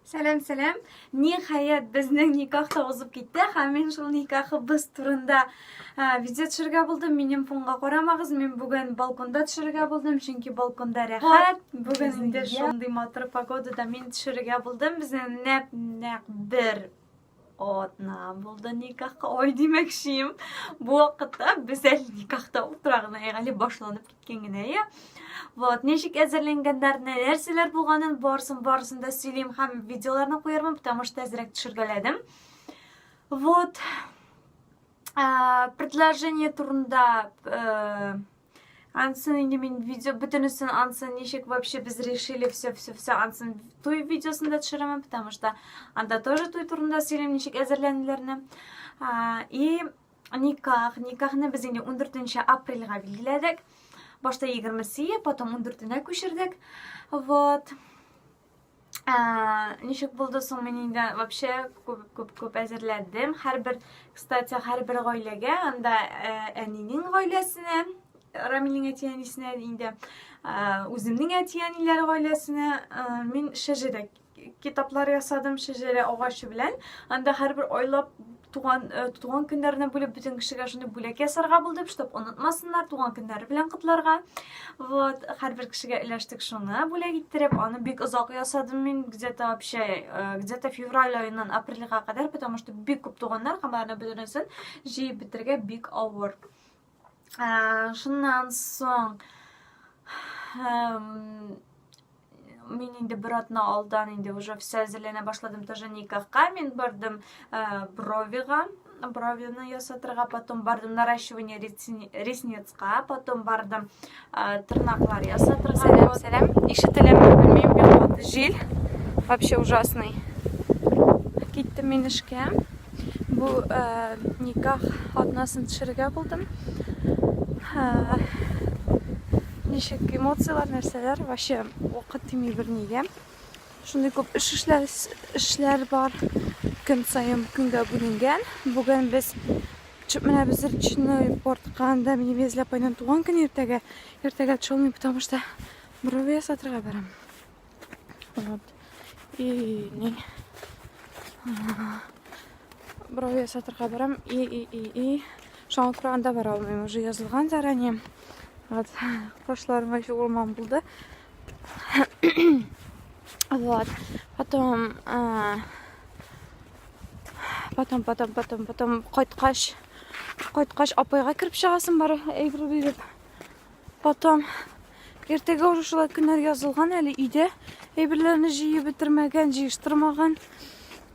Сәлам, сәлам. Ниһаять безнең никах та узып китте. Һәм мин шул никахыбыз турында видео төшерергә булдым. Минем фонга карамагыз, мин бүген балконда төшерергә булдым, чөнки балконда рәхәт. Бүген инде шундый матур погодада мин төшерергә булдым. Безнең нәп-нәк бер Атна булды никахка. Ой, димәкчием. Бу вакытта без әле никахта утыра гына, әле башланып киткән генә, я. Вот, ничек әзерләнгәннәр, нәрсәләр булганын барсын, барсын да сөйлим һәм видеоларны куярмын, потому что әзрәк төшергәләдем. Вот. Предложение турында э, Ансын инде мин видео бөтенесен ансын ничек вообще без решили все все все ансын туй видеосын да төшерәмен, потому что анда тоже туй турында сөйлим ничек әзерләнүләрне. И никах, никахны без инде 14 апрельгә билгеләдек. Башта 20 сия, потом 14 нә күчердек. Вот. Ә, ничек булды соң мин инде вообще күп күп күп әзерләдем. Һәрбер, кстати, һәрбер гаиләгә, анда ә, әнинең гаиләсенә, Рамилнең әти-әнисенә инде, ә, үземнең әти-әниләр гаиләсенә ә, мин шәҗәрә китаплар ясадым шәҗәрә агачы белән. Анда һәрбер айлап туган э, туган көннәренә бүлеп бөтен кешегә шуны бүләк ясарга булдым чтобы онытмасыннар туган көннәре белән котларга вот һәрбер кешегә эләштек шуны бүләк иттереп аны бик озак ясадым мин где то вообще э, где то февраль аеннан апрельга кадәр потому что бик күп туганнар һәм аларны бөтенесен җыеп бетерергә бик авыр Шуннан соң мин инде бер атна алдан инде уже все әзерләнә башладым тоже никахка мин бардым бровига бровины ясатырга потом бардым наращивание ресницка потом бардым Тырнаклар ясатырга. Сәлам, сәлам. Ишетеләме, белмим, бик каты җил. Вообще ужасный. Киттем мин эшкә. Бу э, никах атнасын төшерергә булдым. Э, ничек эмоцияләр, нәрсәләр, вообще вакыт тими бернигә. Шундый күп эш эшләр, эшләр бар. Көн саен көнгә бүленгән. Бүген без чүп менә без речной портка анда мин везле апайның туган көне иртәгә. Иртәгә чолмый, потому что брови ясатырга барам. Вот. И не. Брови ясатырга барам. И и и и. Шуңа күрә анда бара алмыйм. Уже язылган заранее. Вот. Кошларым вообще урман булды. Вот. Потом, а, потом, потом, потом, потом кайткач, кайткач апайга кереп чыгасың бар әйбер биреп. Потом иртәгә уже шулай көннәр язылган әле өйдә әйберләрне җыеп бетермәгән, җыештырмаган.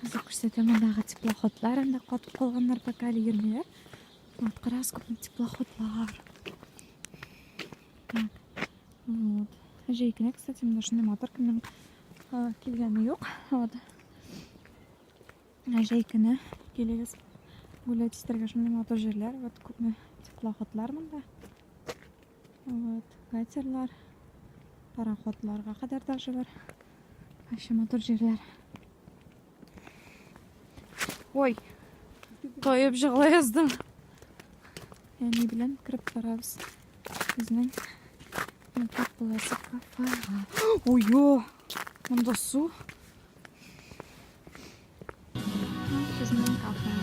Хәзер күрсәтәм мондагы теплоходлар, анда катып калганнар пока әле йөрмиләр. Вот, карагыз күпме теплоходлар. Вот. Җәйкенә, кстати, менә шундый мотор кемнең килгәне юк. Вот. Җәйкенә килегез. Гулять итәргә шундый мотор җирләр. Вот күпме теплоходлар монда. Вот, катерлар, пароходларга кадәр даже бар. Вообще матур җирләр. Ой, тоеп жыгыла яздым. Әни белән кереп барабыз. Безнең Мәктәп буласы кафега. Ой, монда су. Безнең кафе.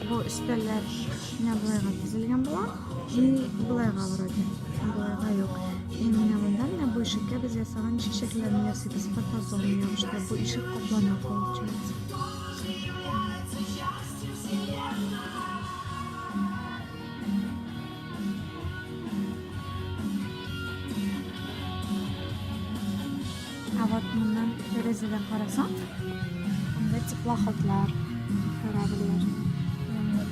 Бу өстәлләр кечкенә болайга төзелгән була. И болайга вроде. Болайга юк. И менә монда менә бу ишеккә без ясаган чәчәкләрне ясыйбыз. Фотозон ябыштырып, бу ишек каплана получается. Ә вот моннан тәрәзәдән карасаң, анда теплоходлар кораблар.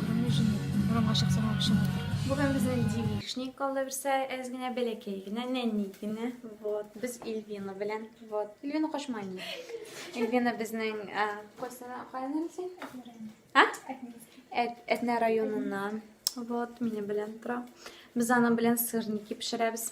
Кроме жены, урамга чыксаң вообще матур. Бүген безнең девичник калды берсә, әз генә бәләкәй генә, нәни генә. Вот, без Эльвина белән. Вот, Эльвина кошма ни. Эльвина безнең кайсына кайнар син? А? Әтнә районыннан. Вот, мине белән тора. Без аның белән сырники пешерәбез.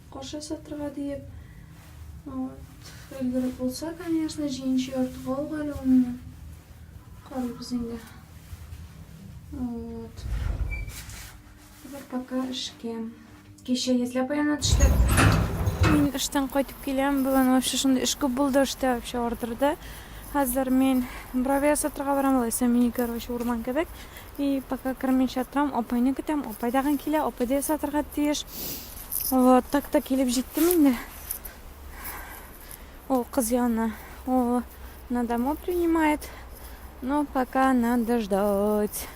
Кош ясатырга диеп, вот, өлгереп булса, конечно, җиенче яртыга алга әле ул минем. Карыйбыз инде. Вот. Бер пока эшкә. Кичә йөзләп аяна төштек. Мин эштән кайтып киләм. Бүген вообще шундый эш күп булды эштә вообще ардырды. Хәзер мин бровя сатырга барам, алайса мини, короче, урман кебек. И пока кермичә торам, апайны көтәм, апай тагын килә, апай да ясатырга тиеш. Вот, так та килеп җиттем инде. Ул кыз янына. Ул на дому принимает. Но пока надо ждать.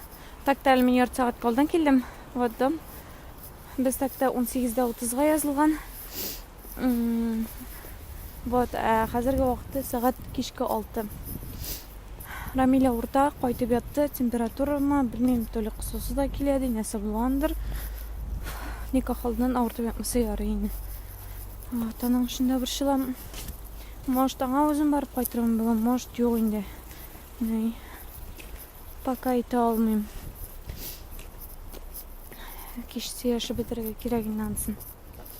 Так та әле мин ярты сәгать калдан килдем. Вот дом. Без так та 18-дә 30-га язылган. Вот, ә хәзерге вакытта сәгать кичке 6. Рамиля урта кайтып ятты, температурамы, белмим, то ли кысасы да килә ди, нәрсә булгандыр. Никах алдыннан авыртып ятмаса ярый инде. Вот, аның өчен дә борчылам. Может, аңа үзем барып кайтырмын бүген, может, юк инде. Ни. Пока әйтә алмыйм. Кичте яшәп бетерергә кирәк инде анысын.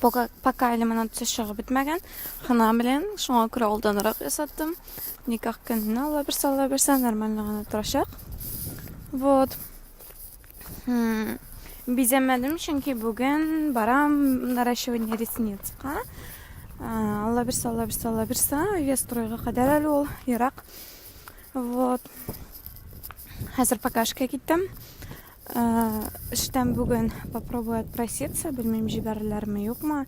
Пока, пока лимонадцы чыгып бетмәгән. Хына белән шуңа күрә алданрак ясаттым. Никах көнне ала берсе ала берсе нормально гына торачак. Вот. Хм. Бизәмәдем, чөнки бүген барам наращивание ресницка. Алла берсе, алла берсе, алла берсе. Өйгә стройга кадәр әле ул ерак. Вот. Хәзер покашка киттем. Эштән бүген попробую отпроситься, белмим җибәрерләрме, юкмы.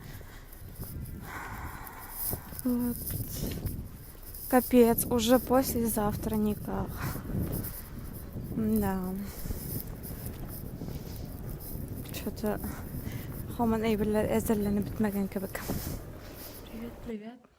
Вот. Капец, уже послезавтра никак. Да. Что-то хаман әйберләр әзерләнеп бетмәгән кебек. Привет, привет.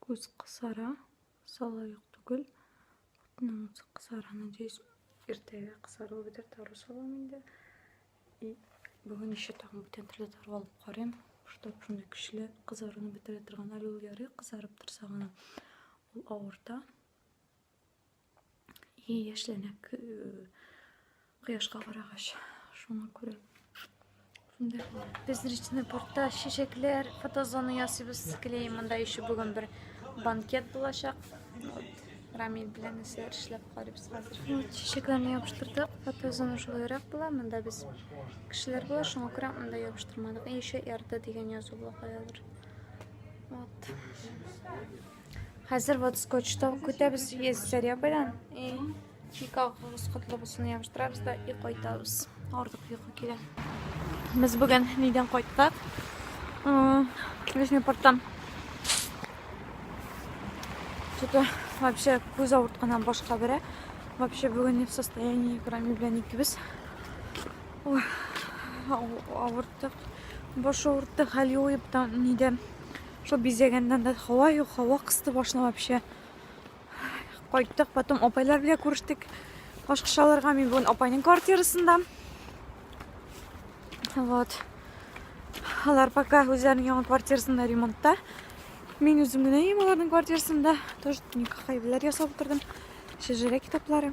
Күз кысара, сала юк түгел. Утның үзе кысара, надеюсь, иртәгә кысару бетер, тару салам инде. И бүген еще тагын бүтән төрле тару алып карыйм. Штаб шундый көчле кызаруны бетерә торган әле ул ярый кызарып торса гына ул авырта. И яшьләнә кояшка карагач. Шуңа күрә. Шунда без речный портта чәчәкләр, фотозона ясыйбыз. Клей монда еще бүген бер банкет булачак. Вот. Рамиль белән исә эшләп карыйбыз хәзер. Вот, чәчәкләрне ябыштырдык. Фотозона шулайрак була. Монда без кешеләр була, шуңа күрә монда ябыштырмадык. И еще эрда дигән язу була каядыр. Вот. Хәзер вот скотчтан көтәбез весь сәрия белән. И никагыгыз котлы булсын ябыштырабыз да и кайтабыз. Артык йокы килә. Без бүген нидән кайттык? Нижний порттан. Что-то вообще күз авыртканнан башка бере. Вообще бүген не в состоянии, кроме белән икебез. Ой, авырттык. Баш авырттык, хәл юып та нидән. Шул бизәгәннән дә һава юк, һава кысты башны вообще. Кайттык, потом апайлар белән күрештек. Башка шаларга мин бүген апайның квартирасында. Вот. Алар пока үзләренең яңа квартирасында ремонтта. Мин үзем генә ем аларның квартирасында. Тоже никахай беләр ясап утырдым. Шәҗәрә китаплары.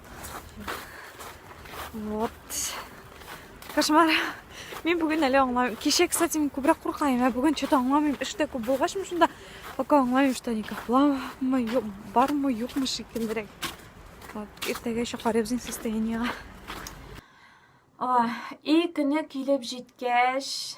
Вот. Кошмар. Мин бүген әле аңламыйм. Кеше, кстати, мин күбрәк куркаем, ә бүген что-то аңламыйм. Эштә күп булгачмы шунда, пока аңламыйм, что они кафламы, юк, бармы, юкмы шикеллерәк. Вот, иртәгә еще карыйбыз состояниега. Ой, и көне килеп җиткәч,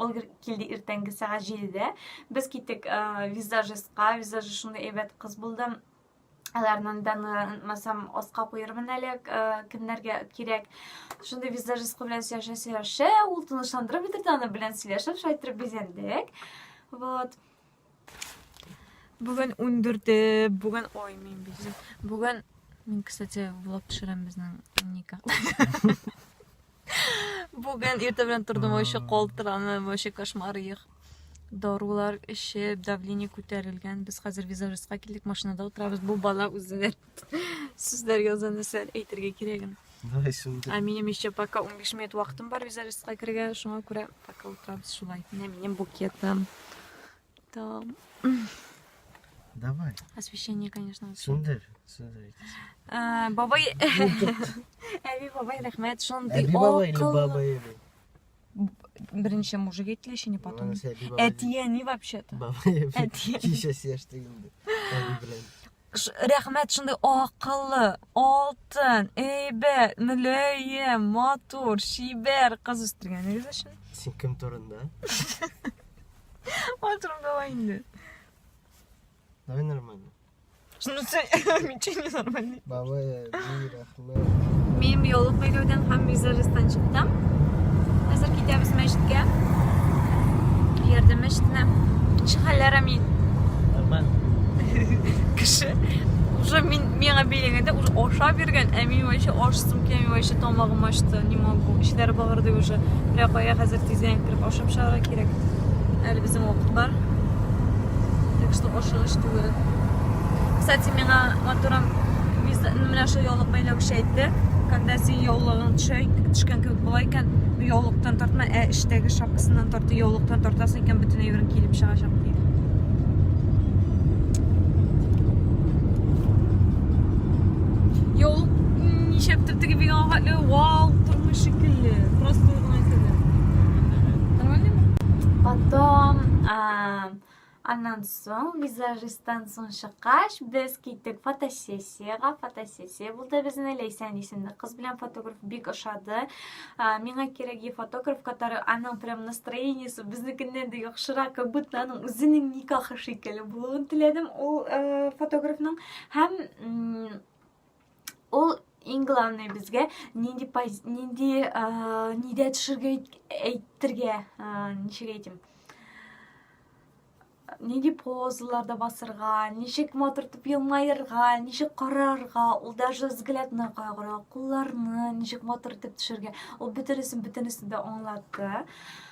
Ул килде иртәнге сәгать җидедә. Без киттек э, визажистка, визажист шундый әйбәт кыз булды. Аларның данланмасам аска куермын әле, э, кемнәргә кирәк. Шундый визажист белән сөйләшә сөйләшә, ул тынычландырып бетерде, аны белән сөйләшеп, шайтырып бизәндек. Вот. Бүген 14-е, бүген ой, мин бит. Бүген мин, кстати, влог төшерәм безнең никах. Бүген иртә белән тордым, вообще калтыранып, вообще кошмар их. Дарулар эчеп, давление күтәрелгән. Без хәзер визажистка килдек, машинада утырабыз. Бу бала үзе Сүзләр яза нәрсәләр әйтергә кирәген. Давай шундый. Ә минем еще пока 15 минут вакытым бар визажистка керергә, шуңа күрә пока утырабыз шулай. Менә минем букетым. Там. Давай. Освещение, конечно. Шундый, шундый. Ә, бабай. Әби бабай рәхмәт, шундый. Әби бабай или баба Эви? Беренче мужик әйтелә, еще не потом. Әтияни вообще-то. Баба Эви. Әтияни. Кичә сештегенде. Әби белән. Рәхмәт шундый акыллы, алтын, әйбәт, мөләем, матур, чибәр кыз үстергәнегез өчен. Син кем турында? Матурым давай инде. Давай нормально. Шунысы мичи не нормальный. Бабая, Зира. Мин биолог бәйләүдән һәм визажистан чыктым. Хәзер китәбез мәчеткә. Ярдәм мәчетенә. Ничек хәлләр, Амин? Нормально. Кеше уже мин миңа бәйләгәндә уже ашап йөргән, ә мин вообще ашсым килә, мин вообще тамагым ачты, не могу. Эчләре багырды уже. Бирә кая хәзер тиздән кереп ашап чыгарга кирәк. Әле безнең вакыт бар. Так что ашыгыч түгел. Кстати, миңа әйтеп торам. Без менә шул яулык бәйләүче әйтте, когда син яулыгың төшә икән, төшкән кебек була икән, яулыктан тартма, ә эчтәге шапкасыннан тарты, яулыктан тартасың икән, бөтен әйберең килеп чыгачак диде. Яулык ничәптер теге бик аңгатлы, вау, тормыш шикелле. Просто гына килде. Нормально? Потом, а, Аннан соң, визажисттан соң чыккач, без киттек фотосессиягә. Фотосессия булды безне. Ләйсән исемле кыз белән фотограф бик ошады. Миңа кирәге фотограф, который аның прям настроениесе безнекеннән дә яхшырак, как будто аның үзенең никахы шикелле булуын теләдем ул фотографның. Һәм ул иң главный безгә нинди нинди нидә төшергә әйтергә ничек әйтим нинди позаларда басырга ничек матур итеп елмаерга ничек карарга ул даже взглядына кайгыра кулларны ничек матур итеп төшергә ул бөтенесен бөтенесен дә аңлатты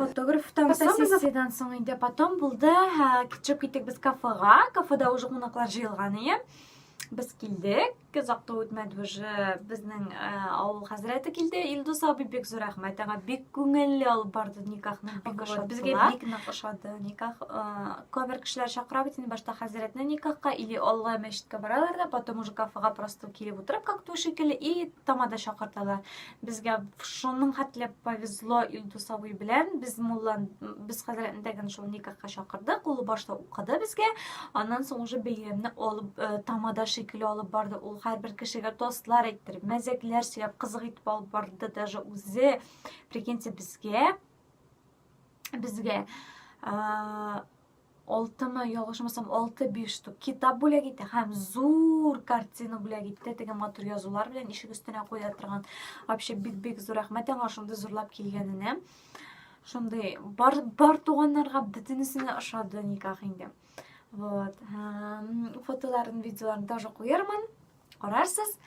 фотограф там фотосессиядан соң инде потом булды кичеп киттек без кафега кафеда уже кунаклар җыелган иде без килдек озакта үтмәде уже безнең э, авыл хәзрәте килде илдус абый бик зур рәхмәт аңа бик күңелле алып барды никахны бик ошады безгә бик нык ошады никах э, күбер кешеләр чакыра бит инде башта хәзрәтне никахка или алла мәчеткә баралар да потом уже кафега просто килеп утырып как то шикелле и тамада чакырталар Безгә шуның хәтле повезло Илдус абый белән. Без муллан, без хәзрәтне тәген шул никахка чакырдык. Ул башта укыды безгә. Аннан соң уже бәйрәмне алып, э, тамада шикелле алып барды. Ул һәрбер кешегә тостлар әйттереп, мәзәкләр сөйләп, кызык итеп алып барды даже үзе. Прикиньте, безгә безгә э, алтымы ялгышмасам алты биш штук китап бүләк итә һәм зур картина бүләк итте теге матур язулар белән ишек өстенә куя торган вообще бик бик зур рәхмәт аңа шундый зурлап килгәненә шундый бар бар туганнарга бөтенесенә ошады никах инде вот фотоларын видеоларын тоже куярмын карарсыз.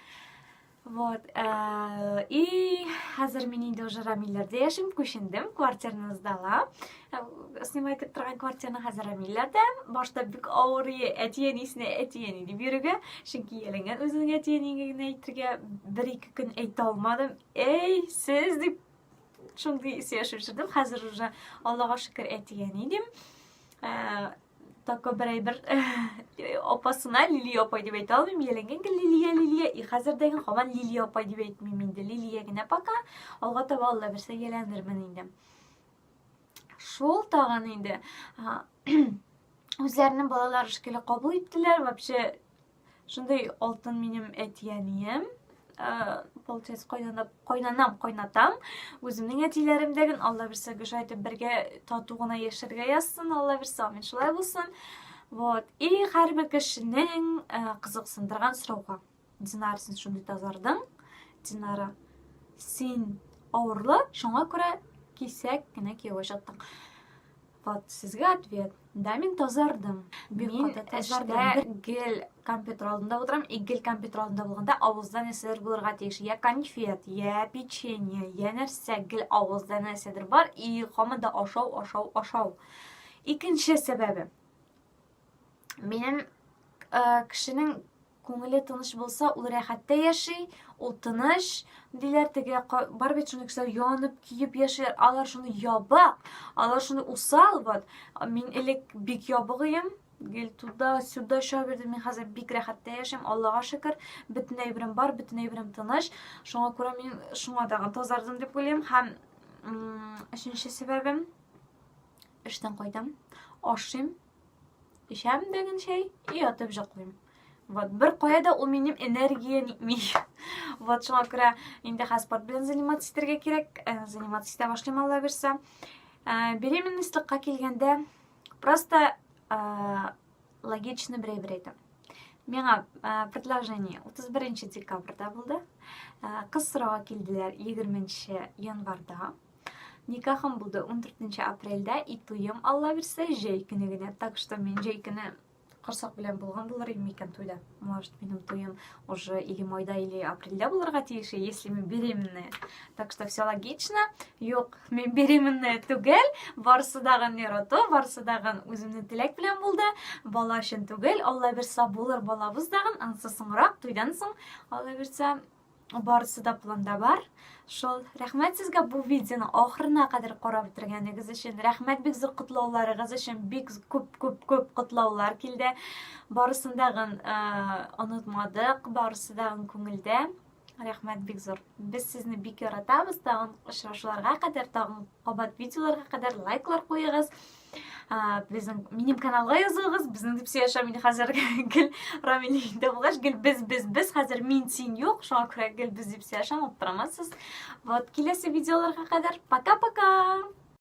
Вот. Э, и хәзер мин инде уже Рамилләрдә яшим, күчендем, квартираны сдала. Э, снимать итеп торган квартираны хәзер Рамилләрдә. Башта бик авыр әтиен исенә әтиен дип йөрергә, чөнки ялынган үзеңә әтиен генә әйтергә бер ике көн әйтә алмадым. Эй, сез дип шундый ис яшәп Хәзер уже Аллага шөкер әтиен идем. Э, Такой бер әйбер апасына Лилия апай дип әйтә алмыйм. Яләнгән гел Лилия, Лилия. И хәзер дә гел һаман Лилия апай дип әйтмим инде. Лилия генә пока. Алга таба Алла бирсә яләндермен инде. Шул тагын инде. Үзләренең балалары шикелле кабул иттеләр. Вообще Шундый алтын минем әтиәнием. Ә, получается, кайнана, кайнанам, кайнатам. Үземнең әтиләрем дә гел Алла бирсә гөшә итеп бергә тату гына яшәргә язсын, Алла бирсә, амин шулай булсын. Вот. И һәрбер кешенең ә, кызыксындырган сорауга. Динар, син шундый тазардың. Динара, син авырлы, шуңа күрә кисәк кенә кияүгә чыктың. Вот сезгә ответ. Да, мин тазардым. Бик мин эштә гел компьютер алдында утырам, и гел компьютер алдында булганда авызда нәрсәләр булырга тиеш. Я конфет, я печенье, я нәрсә гел авызда нәрсәдер бар, и һаман да ашау, ашау, ашау. Икенче сәбәбе. Минем э, кешенең Күңеле тыныч булса, ул рәхәттә яши, ул тыныч, диләр теге бар бит шуны кешеләр янып, көеп яшиләр. Алар шуны ябык, алар шуны усал вот. Мин элек бик ябык идем. Гел туда, сюда чабып йөрдем. Мин хәзер бик рәхәттә яшим, Аллага шөкер. Бөтен әйберем бар, бөтен әйберем тыныч. Шуңа күрә мин шуңа тагын тазардым дип уйлыйм. Һәм өченче сәбәбем эштән кайтам, ашыйм, Эчәм дәген чәй и ятып җыклыйм. Вот бер кая да ул минем энергия нитми. Вот шуңа күрә инде хәзер спорт белән заниматься итәргә кирәк. Э, заниматься итә башлыйм Алла бирсә. Э, беременностьлыкка килгәндә просто э, логично берәйбер әйтәм. Миңа предложение 31 декабрьдә булды. Кыз сорауга килделәр 20 январьда. Никахым булды 14 апрельдә и туем алла бирсә җәй көне генә. Так что мин җәй көне корсак белән булган булыр инде микән туйда. Может, минем туем уже или майда, или апрельдә булырга тиеш, если мы беременные. Так что все логично. Юк, мин беременная түгел. Барсы дагын нерото, барсы дагын үземне теләк белән булды. Бала өчен түгел. Алла бирса булыр балабыз дагын. Ансы соңрак туйдан соң, Алла бирса, барысы да планда бар шул рәхмәт сезгә бу видеоны ахырына кадәр карап бетергәнегез өчен рәхмәт бик зур котлауларыгыз өчен бик күп күп күп котлаулар килде барысын дагын онытмадык барысы дагын күңелдә рәхмәт бик зур без сезне бик яратабыз тагын очрашуларга кадәр тагын Кабат видеоларга кадәр лайклар куегыз. Безнең минем каналга язылыгыз. Безнең дип сөйләшә мин хәзер гел Рамиле инде булгач, гел без без без хәзер мин син юк. Шуңа күрә гел без дип сөйләшәм, аптырамасыз. Вот киләсе видеоларга кадәр пока-пока.